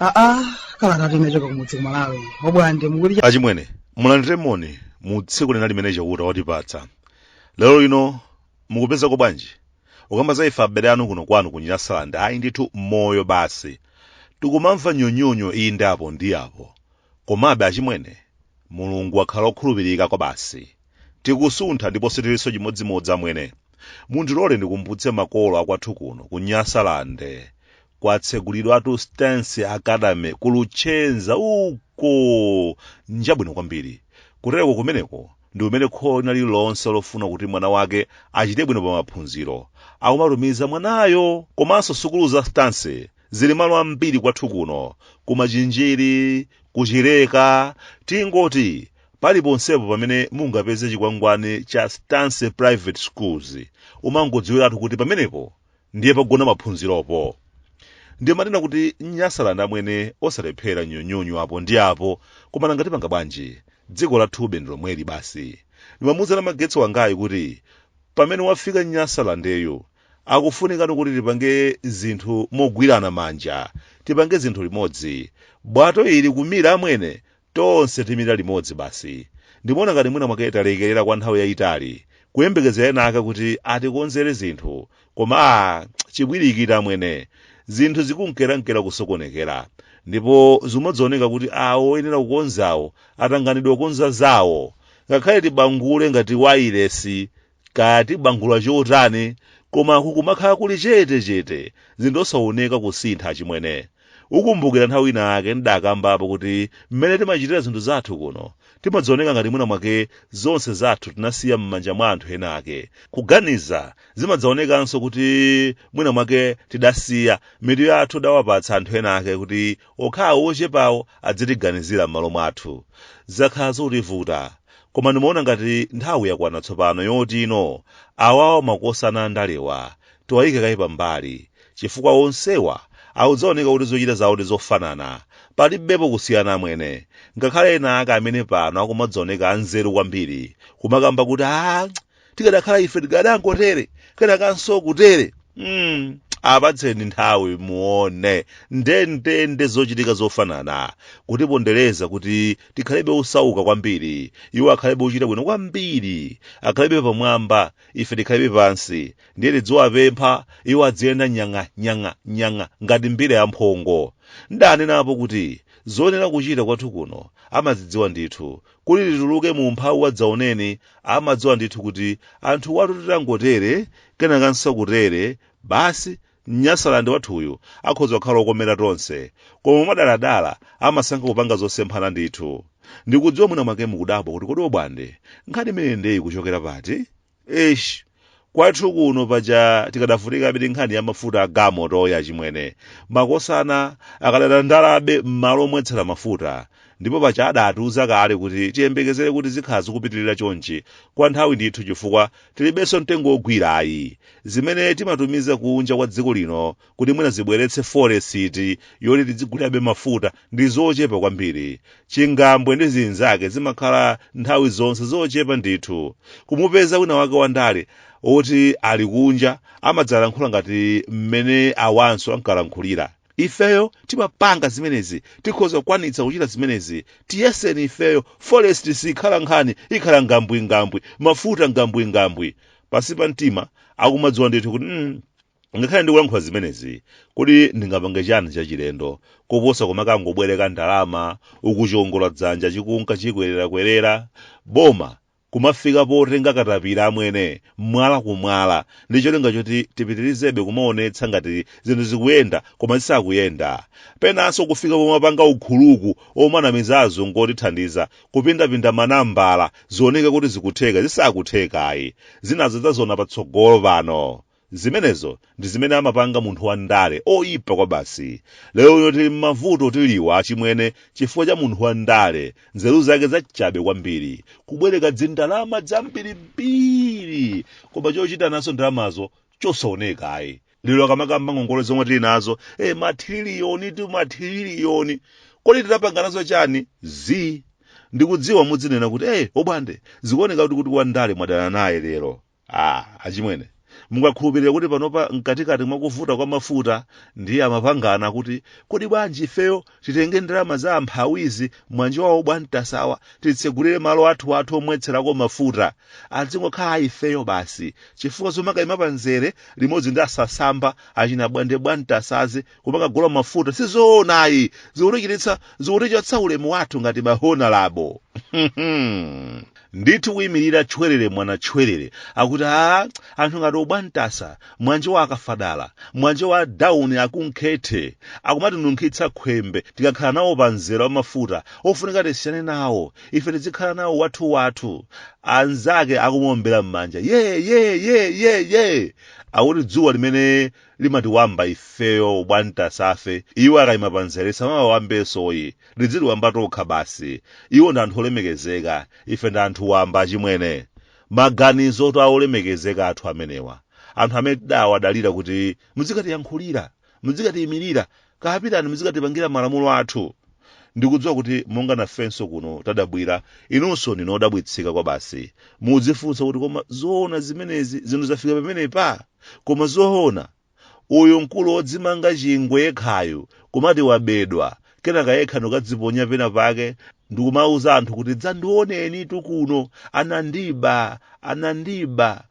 aa kalata yochoka kumudzi kumalawi bwande mukuti achimwene mulandire moni mu tsiku lina limene chauta watipatsa lero lino mukupezako bwanji ukamba za ife abale anu kuno kwanu ku nyasaland ayi ndithu moyo basi tikumamva nyonyonyo inde apo ndi apo komabe achimwene mulungu akhala okhulupirika kwa basi tikusuntha ndipo sitiliso chimodzimodzi amwene mundilole ndikumbutse makolo akwathu kuno ku nyasaland kwatsegulidwatu stance academy ku luchenza uko njabwino kwambiri kutereko kumeneko ndi umene kholo lina lililonse lofuna kuti mwana wake achite bwino pa maphunziro akumatumiza mwanayo komanso sukulu za stance zili malo ambiri kwathu kuno kumachinjiri kuchileka tingoti paliponsepo pamene mungapeze chikwangwani cha stance private schools umangodziwiratu kuti pamenepo ndiye pogona maphunziropo ndimanena kuti nyasaland amwene osalephera nyonyonyo apo ndi apo koma nanga tipanga bwanji dziko lathube ndi lomweli basi ndimamuuza namagetsi wangayi kuti pamene wafika nyasalandeyu akufunikani kuti tipange zinthu mogwirana manja tipange zinthu limodzi bwato ili kumira amwene Tonse timira limodzi basi. Ndimaona ngati mwina mwake talekerera kwa nthawi yayitali, kuyembekeza ena ake kuti atikonzere zinthu, koma ah, chipwirikiti amwene, zinthu zikunkerankera kusokonekera, ndipo zimadzaoneka kuti awo oyenera kukonzawo atanganidwa kukonza zawo. Ngakhale tibangule ngati wailesi kaya tibangule chotani koma kukumakhala kuli chete chete zinthu osaoneka kusintha chimwene ukumbukira nthawi ina yake ndidakambapo kuti mmene timachitira zinthu zathu kuno timadzaoneka ngati mwina mwake zonse zathu tinasiya m'manja mwa anthu ena ake kuganiza zimadzaonekanso kuti mwina mwake tidasiya mitu yathu dawapatsa anthu ena ake kuti Okhawo ochepawo adzitiganizira m'malo mwathu. Zakhala zotivuta. Koma ndimaona ngati nthawi yakwana tsopano yoti ino, awawa makosana andalewa, tiwayike kaye pambali. Chifukwa onsewa akudzaoneka kuti zochita zawo ndi zofanana. Palibepo kusiyana amwene. Ngakhale enaake amene pano akumadzaoneka anzeru kwambiri, kumakamba kuti aah, tikadakhala ife tikadangotere kenakanso kutere mm. apatseni nthawi muone ndendende zochitika zofanana kutipondereza kuti tikhalebe osauka kwambiri iwo akhalebe ochita bwino kwambiri akhalebe pamwamba ife tikhalebe pansi ndiye tidziwapempha iwo adziyenda nyang'a nyang'a nyang'a ngati mbira ya mphongo ndanenapo kuti zonena kuchita kwathu kuno amazidziwa ndithu kuti tituluke mu umphawi wadzaoneni amadziwa ndithu kuti anthuwatu titangotere kenakanso kutere basi Nyasalandi wathuyu akhoza kukhala okomera tonse koma mwadaladala amasankha kupanga zosemphana ndithu ndikudziwa mwina mwake mukudabwa kuti kodi obwande nkhani imeneyi ndiye kuchokera pati eish kwathu kuno paja tikadavutikabe ndi nkhani ya mafuta a galimoto ya achimwene makosana akadandandabe m'malo omwetsera mafuta ndipo paja adatiuza kale kuti tiyembekezere kuti zikhala zikupitirira chonchi kwa nthawi ndithu chifukwa tilibenso mtengo wogwira ayi zimene timatumiza kunja kwa dziko lino kuti mwina zibweretse forex yoti tidzigulirabe mafuta ndi zochepa kwambiri chingambwe ndi zinzake zimakhala nthawi zonse zochepa ndithu kumupeza wina wake wandale oti ali kunja amadzalankhula ngati mmene awanso ankalankhulira ifeyo timapanga zimenezi tikhoza kukwanitsa kuchita zimenezi tiyeseni ifeyo forex sikhala nkhani ikhala ngambwingambwi mafuta ngambwingambwi pansi pa mtima akumadziwa ndithu kuti mm, Ngakhale ndikulankhula zimenezi, kodi ndingapange chani chachilendo koposa kumakangobwereka ndalama uku chiongola dzanja chikunka chikwererakwerera? Boma kumafika potenga katapira amwene mwala ku mwala ndi cholinga choti tipitirizebe kumaonetsa ngati zinthu zikuyenda koma zisakuyenda. Penanso kufika pomapanga ukhuluku omanamiza azungu otithandiza kupindapinda ma nambala zioneke kuti zikutheka zisakuthekayi. Zinazo tidzaziona patsogolo pano. Zimenezo ndi zimene amapanga munthu wa ndale oyipa kwabasi. Lero lino tili mmavuto tiliwa achimwene chifukwa cha munthu wa ndale nzeru zake zachabe kwambiri kubwereka dzindalama dzambirimbiri koma chochita nazo ndalamazo chosaoneka ayi. Lero akamakamba ngongole zomwe tili nazo eh mathiriliyonitu mathiriliyoni kodi tidapanga nazo chani zii. Ndikudziwa mudzinena kuti eh obwande zikuoneka kuti wa ndale mwadana naye lero. ah achimwene mungakhulupirire kuti panopa mkatikati mwa kuvuta kwa mafuta ndiye amapangana kuti kodi bwanji ifeyo titenge ndalama za amphawizi mwa nzeru zawo abwantasawa titsegulire malo athu athu omwetserako mafuta adzingokhala a ifeyo basi chifukwa zomakayima pa nzere limodzi ndi asasamba achina bwande bwantasazi kumakagula mafuta sizoona ayi zikutichititsa zikutichotsa ulemu wathu ngati mahonalabo ndithu kuyimirira tchwerere mwana tchwerere akuti a anthu ngati obwantasa mwanje wa akafadala mwanje wa dawuni akunkhethe akumatinunkhitsa khwembe tikakhala nawo pa mzera wa mafuta ofunika tisiyane nawo ife tizikhala nawo wathu wathu anzake akumuombera m'manja ye ye ye ye ye akuti dzuwa limene limatiwamba ifeyo obwantasafe iwo akayima panzere lisamawawambenso ayi lidzitiwamba tokha basi iwo ndi anthu olemekezeka ife ndi anthu wamba achimwene maganizotu a olemekezeka athu amenewa anthu amene tidawadalira kuti muzikatiyankhulira muzikatiyimirira kapitani, muzikatipangira malamulo athu ndikudziwa kuti monga nafenso kuno tadabwira inunso ndinu odabwitsika kwabasi mudzifunsa kuti koma zoona zimenezi zinthu zafika pamenepa koma zoona uyu mkulu wodzimanga chingwe yekhayu kumati wabedwa kenaka yekha ndikadziponya pena pake ndikumauza anthu kuti dzandionenitu kuno anandiba anandiba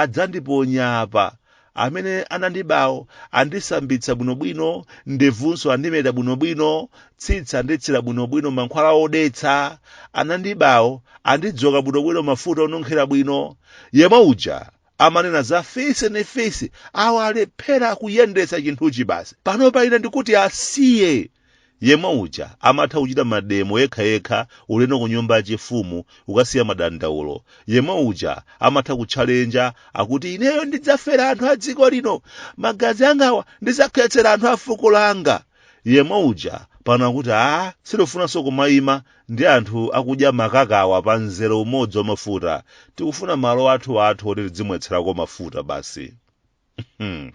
adzandiponya apa amene anandibawo andisambitsa bwinobwino ndevunso andimeta bwinobwino tsitsi anditsira bwinobwino mankhwala odetsa anandibawo andidzoka bwinobwino mafuta onunkhira bwino yemwe uja amanena za fisi ndi fisi awo alephera kuyendetsa chinthuchi basi panopa ine ndikuti asiye yemwe uja amatha kuchita mademo yekhayekha ulendo ku nyumba yachifumu kukasiya madandaulo yemwe uja amatha kutchalenja akuti ineyo ndidzafera anthu a dziko lino magazi angawa ndidzakhetsera anthu a fuko langa yemwe uja pano akuti a sitifunanso kumayima ndi anthu akudya makakawa pa mzere umodzi wa mafuta tikufuna malo athu athu oti tidzimwetserako mafuta basi Hmm.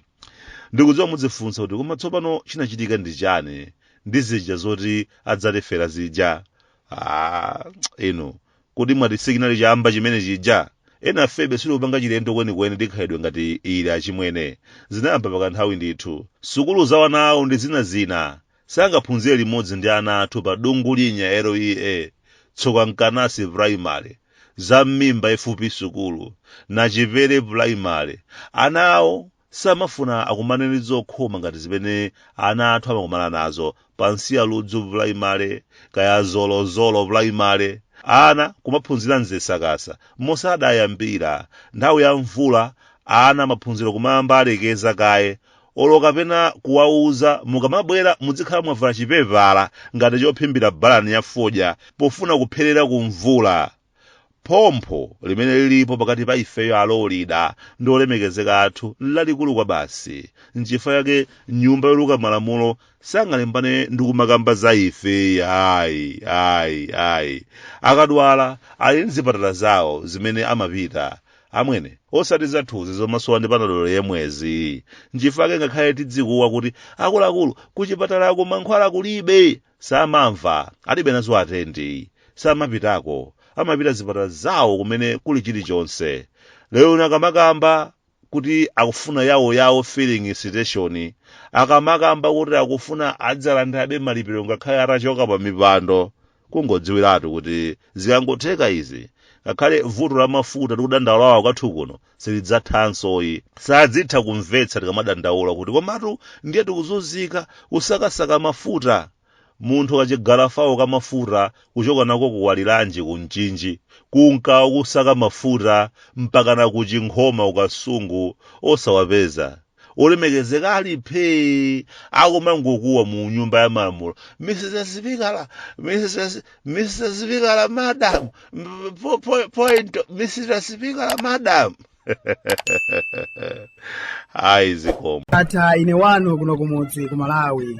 ndikudziwa mudzifunsa kuti koma tsopano chinachitika ndi chani ndi zija zoti adzatifera zija ah, inu kuti mwati sikinali chamba chimene chija enafebe sitikupanga chilendo kwenikweni chikhalidwe ngati ichi achimwene zinayamba pakanthawi ndithu sukulu za wana awo ndi zina zina sangaphunzire limodzi ndi ana athu pa Dungulinya LEA Tsokankanasi primary za mmimba FP sukulu nachipere primary ana awo samafuna akumane ndi zokhoma ngati zimene ana athu amakumana nazo pansi ya ludzu primary kaya zolozolo primary ana kumaphunzira mzisakasa moti ikangoyamba nthawi ya mvula ana maphunziro kumayamba alekeza kaye olo kapena kuwauza mukamabwera mudzikhala mwavala chipepala ngati chophimbira balani ya fodya pofuna kupherera ku mvula phompho limene lilipo pakati pa ifeyo alolida ndi olemekezeka athu nlalikulu kwabasi nchifukwa chake nyumba yoluka malamulo sangalimbane ndi kumakamba za ife ayi ayi ayi akadwala ali ndi zipatala zawo zimene amapita amwene osati zathuzi zomasowa ndi panadolo yemwezi nchifukwa chake ngakhale tidzikuwa kuti akuluakulu kuchipatalako mankhwala kulibe samamva alibe nazo atendi samapitako amapita zipatala zawo kumene kuli chilichonse lero akamakamba kuti akufuna yawo yawo filling station akamakamba kuti akufuna adzalandirabe malipiro ngakhale atachoka pa mipando kungodziwiratu kuti zikangotheka izi ngakhale vuto la mafuta tikudandaulawa kwathu kuno silidzathansoyi sadzitha kumvetsa tikamadandaula kuti komatu ndiye tikuzunzika kusakasaka mafuta munthu kachigalafawo ka mafuta kuchoka nako ku Waliranji ku Mchinji kunka akusaka mafuta mpakana ku Chinkhoma ku Kasungu osawapeza olemekezeka ali phee akumangokuwa mu nyumba ya malamulo mr sipikala mr mr sipikala madam m- po- po- point mr sipikala madam ayi zikomo ndatha ine wanu kuno kumudzi ku malawi